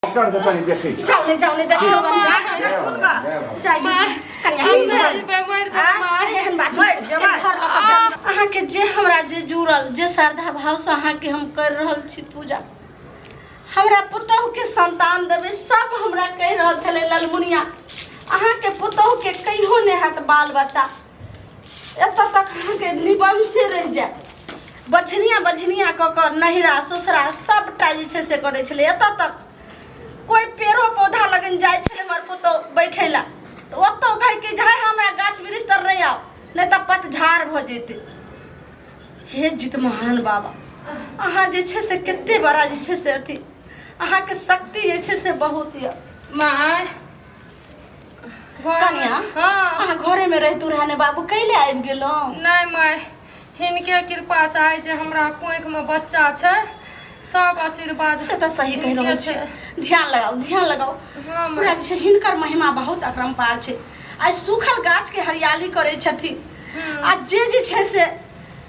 चढ़ के तनी देखी जाओ ले जाओ ले देखियो हम जा जाई जी कन्या हम दिल पे मर जा मार एहन बात मर जा मार अहाँ के जे हमरा जे जुड़ल जे श्रद्धा भाव से अहाँ के हम कर रहल छी पूजा हमरा पुतोह के संतान देबै सब हमरा कहि रहल छलै ललमुनिया अहाँ के पुतोह के कहियो नहि हैत बाल बच्चा एतऽ तक अहाँके निबंशे रहि जाए बछनिया बछनिया कऽ कऽ नहिरा ससुरा सभटा जे छै से करै छलै एतऽ तक कोइ पेड़ो पौधा लगन जाइ छलै हमर पुतहु बैठै लए तऽ ओतहु कहै कि जे हमरा गाछ वृक्ष तर नहि आउ नहि तऽ पतझार भऽ जेतै हे जित महान बाबा अहाँ जे छै से कते बड़ा जे छै से अथी अहाँके शक्ति जे छै से बहुत यऽ माय कनिया हाँ अहाँ घरे में रहतू रहे ने बाबू कैले आबि गेलहुँ नहीं माय हिनके कृपा से आइ जे हमरा कोख में बच्चा छै सब आशीर्वाद से तऽ सही कहि रहल हिनके छी छै। ध्यान लगाउ ध्यान लगाउ हाँ माय पूरा जे छै हिनकर महिमा बहुत अपरम्पार छै आइ सूखल गाछ के हरियाली करै छथिन आ जे जे छै से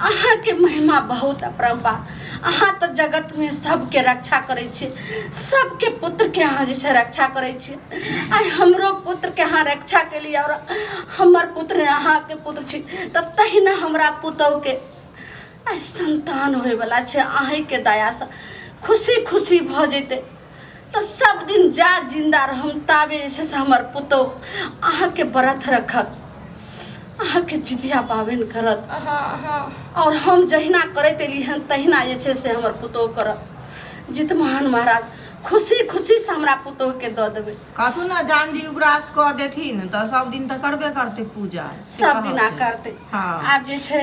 अहाँके महिमा बहुत अपरम्पा अहाँ तऽ जगतमे सबके रक्षा करै छी सबके पुत्रके अहाँ जे छै रक्षा करै छी आइ हमरो पुत्रके अहाँ रक्षा केली आओर हमर पुत्र अहाँके पुत्र छी तऽ तहिना हमरा पुतौहके आइ सन्तान होइवला छै अहीँके दयासँ खुशी खुशी भऽ जेतै तऽ सब दिन जा जिंदा रहम ताबे जे छै से हमर पुतोह अहाँके व्रत रखत अहाँके जितिया पाबनि करत आओर हम जहिना करैत एली हन तहिना जे छै से हमर पुतोह करत जितमान महाराज खुशी खुशी से हमरा पुतोह के दऽ देबै कथू ने जान जी उग्रास कऽ देथिन तऽ सब दिन तऽ करबे करतै पूजा से सब दिना कहतै। करतै हँ। आब जे छै